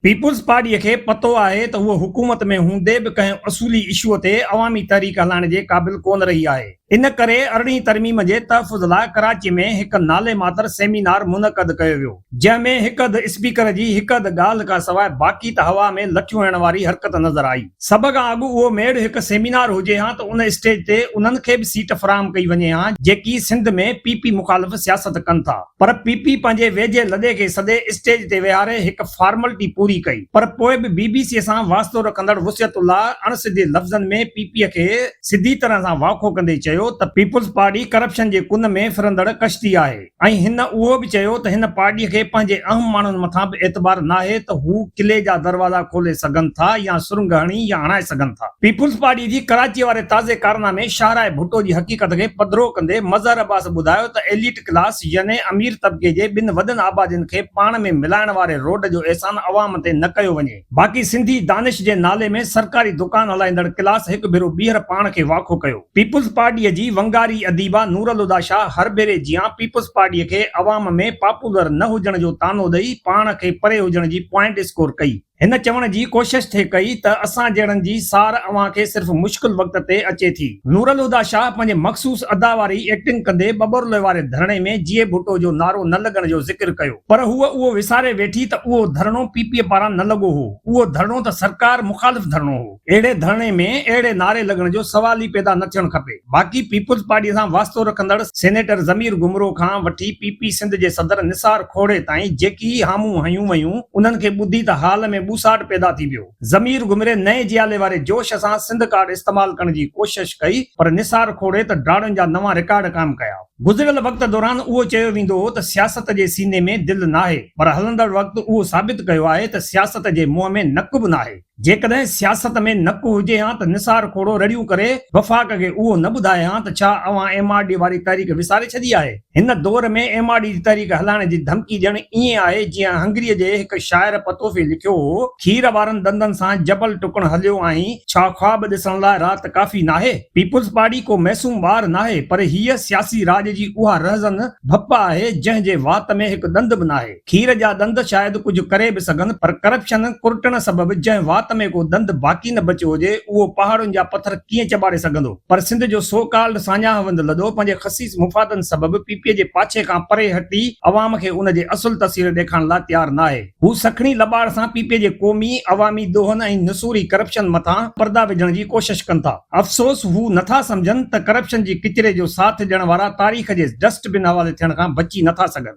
Peoples پارٽيء کي پتو آهي ته هوء حڪومت ۾ هوندي به ڪنهن اصولي اشوء تي عوامي تحريڪ هلائڻ جي قابل ڪونه رهي آهي. ان ڪري ارڙهين ترميم جي تحفظ لاء ڪراچيء ۾ هڪ نالي ماتر سيمينار منعقد ڪيو ويو، جنهن ۾ هڪ اڌ اسپيڪر جي هڪ اڌ ڳالهه کان سواء باقي ته هوا ۾ لٺيون هڻڻ واري حرڪت نظر آئي. سڀ کان اڳ اهو ميڙ هڪ سيمينار هجي ها ته ان اسٽيج تي انهن کي به سيٽ فراهم ڪئي وڃي ها جيڪي سنڌ ۾ پي پي مخالف سياست ڪن ٿا پر پي پي پنهنجي ويجهي لڏي کي سڏي اسٽيج تي ويهاري هڪ فارملٽي پوري ڪئي پر پوء به بي بي سي سان واسطو رکندڙ وصيت الله اڻ سڌي لفظن ۾ پي پي کي سڌي طرح سان واکو ڪندي چيو ته پيپلز پارٽي ڪرپشن جي ڪن ۾ ڦرندڙ ڪشتي آهي. ۽ هن اهو به چيو ته هن پارٽي کي پنهنجي اهم ماڻهن مٿان به اعتبار ناهي ته هو قلعي جا دروازا کولي سگهن ٿا يا سرنگهه هڻي يا هڻائي سگهن ٿا. پيپلز پارٽي جي ڪراچي واري تازي ڪارنامي شاهراهه ڀٽو جي حقيقت کي پڌرو ڪندي مظهر عباس ٻڌايو ته ايليٽ ڪلاس يعني امير طبقي جي ٻن وڏن آبادين کي پاڻ ۾ ملائڻ واري روڊ جو احسان عوام تي نه ڪيو وڃي. باقي سنڌي دانش جي نالي ۾ سرڪاري دڪان هلائيندڙ ڪلاس هڪ ڀيرو ٻيهر پاڻ کي واکو ڪيو. پيپلز پارٽيء جي ونگاري اديبه نورالهديٰ شاهه هر ڀيري جيان پيپلز پارٽيء کي عوام ۾ پاپولر نه هجڻ جو طعنو ڏئي پاڻ کي پري هجڻ جي پوائنٽ اسڪور ڪئي. هن چوڻ جي ڪوشش ٿي ڪئي ته اسان جهڙن جي سار اوهان کي صرف مشڪل وقت تي اچي ٿي. نورالهديٰ شاهه پنهنجي مخصوص ادا واري ايڪٽنگ ڪندي ٻٻرلوئي واري ڌرڻي ۾ جيئي ڀٽو جو نعرو نه لڳڻ جو ذڪر ڪيو. پر هوء اهو وساري ويٺي ته اهو ڌرڻو پي پي پاران نه لڳو هو، اهو ڌرڻو ته سرڪار مخالف ڌرڻو هو. اهڙي ڌرڻي ۾ اهڙي نعري لڳڻ جو سوال ئي پيدا نه ٿيڻ کپي. باقي پيپلز پارٽيء سان واسطو رکندڙ سينيٽر ضمير گمرو کان وٺي پي پي سنڌ جي صدر نثار کوڙي تائين جيڪي ئي هامون هنيون ويون، انهن کي ٻڌي ته هال ۾ ٻوساٽ پيدا ٿي ويو. ضمير گمري نئين جيالي واري جوش سان سنڌ ڪارڊ استعمال ڪرڻ جي ڪوشش ڪئي، پر نثار کوڙي ته ڊاڙن جا نوان رڪارڊ قائم ڪيا. گذريل وقت دوران اهو چيو ويندو هو ته سياست جي سيني ۾ دل ناهي پر هلندڙ وقت اهو ثابت ڪيو آهي ته سياست جي منهن ۾ نڪ به ناهي. جيڪڏهن سياست ۾ نڪ هجي هان ته نثار کوڙو رڙيون ڪري وفاق کي اهو نه ٻڌائي هان ته ڇا اوهان ايم آر ڊي واري تحريڪ وساري ڇڏي آهي. هن دور ۾ ايم آر ڊي جي تحريڪ هلائڻ جي ڌمڪي ڄڻ ائين آهي جيئن هنگريء جي هڪ شاعر پتوفي لکيو هو، کير وارن ڏندن سان جبل ٽڪڻ هليو آهين، ڇا خواب ڏسڻ لاء رات ڪافي ناهي؟ پيپلز پارٽي ڪو معصوم ٻار ناهي پر هيء سياسي راڄ جي اها رهزن ڀپ آهي جنهن جي وات ۾ هڪ ڏند به ناهي. کير جا ڏند شايد ڪجهه ڪري به سگهن پر ڪرپشن ڪرٽڻ سبب جنهن وات ۾ ڪو ڏند باقي نه بچيو هجي اهو پهاڙن جا پٿر ڪيئن چٻاڙي سگهندو پر سنڌ جو سو ڪالڊ ساڃاهوند لڏو پنهنجي خسيس مفادن سبب پي پي جي پاڇي کان پري هٽي عوام کي ان جي اصل تصوير ڏيکارڻ لاء تيار ناهي. هو سکڻي لٻاڙ سان پي پي جي قومي، عوامي دونهن ۽ نسوري ڪرپشن مٿان پردا وجهڻ جي ڪوشش ڪن ٿا. افسوس هو نه ٿا سمجهن ته ڪرپشن جي ڪچري جو ساٿ ڏيڻ وارا تاريخ جي ڊسٽ بن حوالي ٿيڻ کان بچي نه ٿا سگهن.